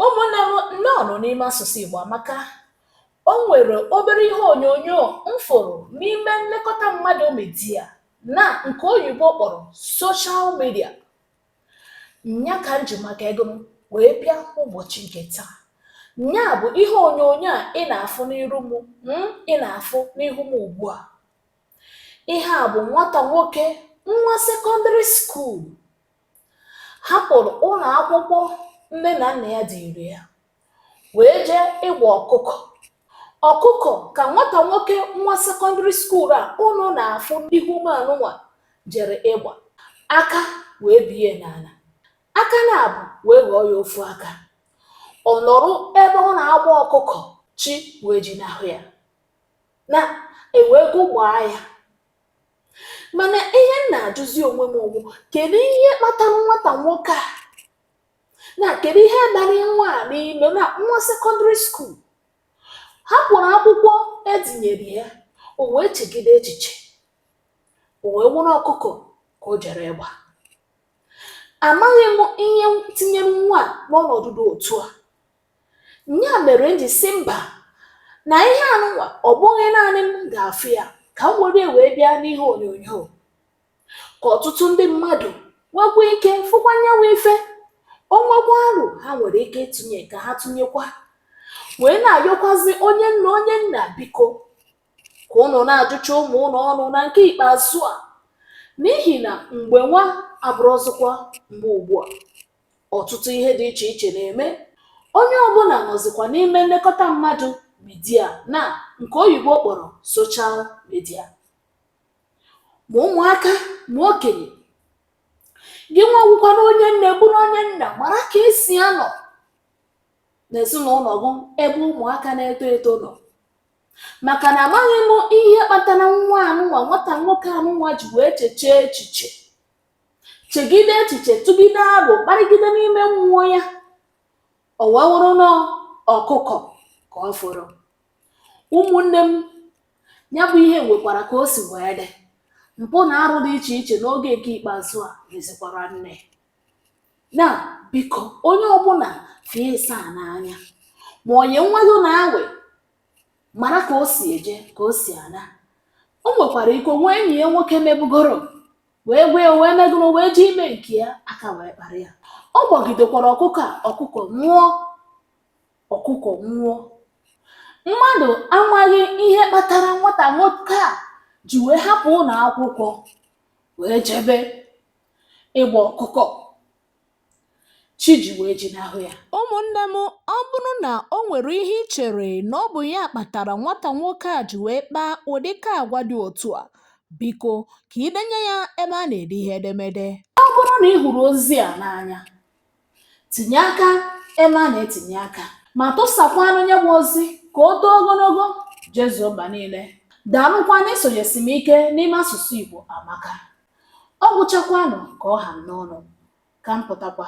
ụmụnne m nnọọnụ n'ime asụsụ Igbo amaka o nwere obere ihe onyonyo m fụrụ n'ime nlekọta mmadụ midia na nke oyibo kpọrọ soshal midia nya ka m ji maka ego m wee bịa ụbọchị nke taa nya bụ ihe onyonyo a ị na-afụ n'iru mụ ị na-afụ n'ihu m ugbu a ihe a bụ nwata nwoke nwa sekọndịrị skuul hapụrụ ụlọ akwụkwọ nne na nna ya tiri ya wee jee ịgba ọkụkọ ọkụkọ ka nwata nwoke nwa sekọndịrị skuul a ụnụ na-afụ n'ihu m anụnwa jere ịgba aka wee bie n'ala aka naabọ wee ghọọ ya ofu aka ọ nọrọ ebe ọ na-agba ọkụkọ chi wee jinahụ ya na ewego gbaa ya mana ihe m na-ajụzi onwe mụ wụ kedu ihe kpatara nwata nwoke a na kedu ihe bara nwa a n'ime na nwa sekọndịrị skuul hapụrụ akwụkwọ e tinyere ya o wee chegide echiche o wee wụrụ ọkụkọ ka o jere ịgba amaghị m ihe tinyere nwa a n'ọnọdụ dị otu a nya mere m ji sị mba na ihe anụnwa ọ bụghị naanị m ga-afụ ya ka m were wee bịa n'ihe onyonyo ka ọtụtụ ndị mmadụ nwekwa ike fụkwa nyanwụ ife o nwekwaa aro ha nwere ike ịtụnye ka ha tụnyekwa wee na-ayọkwazi onye nne onye nna biko ka ụnụ na-ajụcha ụmụ ụnụ ọnụ na nke ikpeazụ a n'ihi na mgbe nwa abụrọzịkwa mgbe ugbu a ọtụtụ ihe dị iche iche na-eme onye ọbụla nọzikwa n'ime nlekọta mmadụ midia na nke oyibo kpọrọ soshal midia ma ụmụaka ma okenye gị nwa wụkwara onye nne bụrụ onye nna mara ka e si anọ n'ezinụlọ gị ebe ụmụaka na-eto eto nọ maka na amaghị m ihe kpatara nwa anụnwa nwata nwoke anụnwa ji wee chechee echiche chegide echiche tụgide aro kparịgide n'ime mmụọ ya o wee wụrụ na ọkụkọ ka ọ fọrọ ụmụnne m ya bụ ihe nwekwara ka o si wee dị mpụ na arụ dị iche iche n'oge nke ikpeazụ a mezikwara nne na biko onye ọbụla fie asaa n'anya ma onye nwa gị na-awụ mara ka o si eje ka o si ana o nwekwara ike o nwee enyi ya nwoke mebugoro wee gwa ya wee megoro wee jee ime nke ya aka wee kpara ya ọ gbagidekwara ọkụkọ a ọkụkọ nwụọ ọkụkọ nwụọ mmadụ amaghị ihe kpatara nwata nwoke a ji wee hapụ ụlọ akwụkwọ wee jebe ịgba ọkụkọ chi ji wee jinahụ ya ụmụnne m ọ bụrụ na o nwere ihe i chere na ọ bụ ya kpatara nwata nwoke a ji wee kpaa ụdịka agwa dị otu a biko ka i denye ya ebe a na-ede ihe edemede ọ bụrụ na ị hụrụ ozi a n'anya tinye aka ebe a na-etinye aka ma tụsakwanụ ya bụ ozi ka o too ogologo jezuo mba niile daalụkwa n'isonyesi m ike n'ime asụsụ igbo amaka Ọ gwụchakwanụ ka ọ ha m n'ọnụ, ka m pụtakwa.